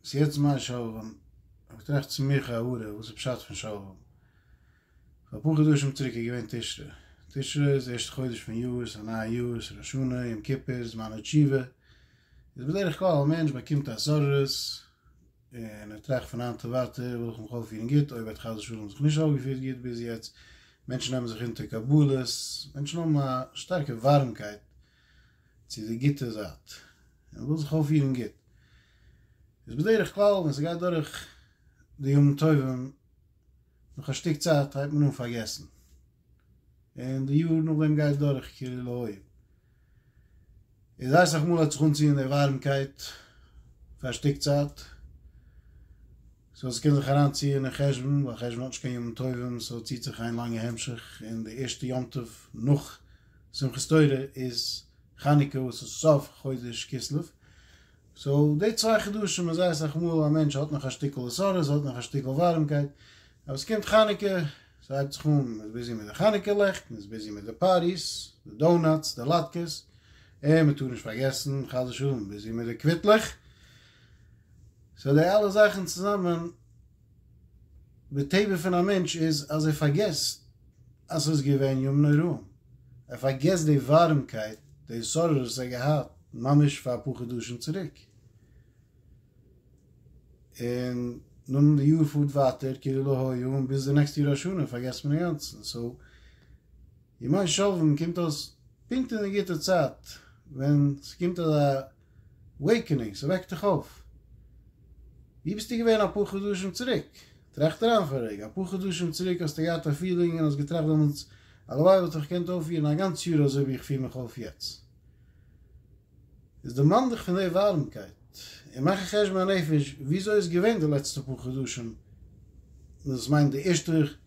ס'איז יעצט זמן שלום, האב איך געטראכט צו מיר כהערה, וואס איז פשט פון שלום? פאר אפאר חדשים צוריק איז געווען תשרי, תשרי איז די ערשטע חודש פון יאר, ס'איז א נייע יאר, ס'איז ראש השנה, יום כיפור, זמן התשובה, איז בדרך כלל א מענטש באקומט התעוררות, און ער טראכט פון היינט און ווייטער וויל איך מיך אויפפירן גוט, אויב ער האט חס ושלום זיך נישט אויפגעפירט גוט ביז יעצט, מענטשן נעמען זיך אונטער קבלות, מענטשן האבן א שטארקע ווארעמקייט צו די גוטע זייט און וויל זיך אויפפירן גוט, איז בדרך כלל ווען ס'גייט דורך די ימים טובים, נאך א שטיק צייט הייבט מען אן פארגעסן, און די יאר נאכדעם גייט דורך כאילו לא היה, איז די אסאך מאל האט זיך אנצוען די ווארעמקייט פאר א שטיק צייט, סאו ס'קען זיך אריינציען אין חשבון, ווייל חשבון האט נישט קיין ימים טובים, סאו ציט זיך איין לאנגע המשך, און די ערשטע יום טוב נאך. שמחת תורה איז חנוכה וואס איז סוף חודש כסלו, סאו די צוויי חדשים איז זייער אסאך מאל א מענטש האט נאך א שטיקל עשרות, האט נאך א שטיקל ווארעמקייט, אבער עס קומט חנוכה, ס'הייבט זיך אן, מ'איז ביזי מיט די חנוכה לעכט, מ'איז ביזי מיט די פארטיס, די דאונאטס, די לאטקעס, און מ'טאר נישט פארגעסן חס ושלום ביזי מיט די קוויטלעך, סאו די אלע זאכן צוזאמען די טבע פון א מענטש איז אז ער פארגעסט אז ס'איז געווען ימים נוראים, ער פארגעסט די ווארעמקייט, די התעוררות וואס ער האט געהאט ממש פאר אפאר חדשים צוריק, און נאכדעם די יאר פארט ווייטער כאילו לא היה און ביז די נעקסטע יאר השנה פארגעסט מען אינגאנצן, סאו ימי שלווים קומט אויס פונקט אין די גוטע צייט ווען ס'קומט אזא וועיקענינג, ס'וועקט דיך אויף. ווי ביסטו געווען אפאר חדשים צוריק? טראכט אריין פאר א רגע, אפאר חדשים צוריק האסטו געהאט א פילינג און האסט געטראכט דעמאלטס, הלוואי וואלט איך געקענט אויפפירן א גאנץ יאר אזוי ווי איך פיר מיך אויף יעצט. איז דערמאן דיך פון די ווארעמקייט און מאך א חשבון הנפש, וויאזוי איז געווען די לעצטע פאר חדשים, דאס מיינט די ערשטע,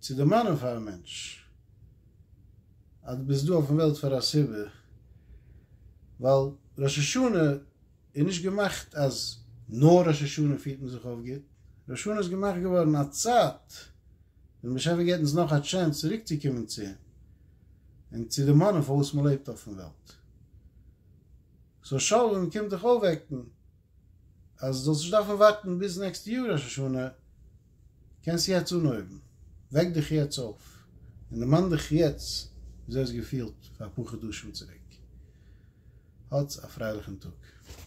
צו דערמאנען פאר א מענטש אז דו ביסט דא אויפן וועלט פאר א סיבה, ווייל ראש השנה איז נישט געמאכט אז נאר ראש השנה פירט מען זיך אויף גוט, ראש השנה איז געמאכט געווארן א צייט ווען דער באשעפער געבט אונז נאך א טשענס צוריק צו קומען צו אים און צו דערמאנען פארוואס מען לעבט אויפן וועלט, סאו שלום קומט דיך אויפוועקן. אז זאלסט נישט דארפן ווארטן ביז נעקסטע יאר ראש השנה, קענסט יעצט אנהויבן, וועק דיך יעצט אויף און דערמאן דיך יעצט וויאזוי האסט געפילט פאר אפאר חדשים צוריק. האטס א פרייליכן טאג.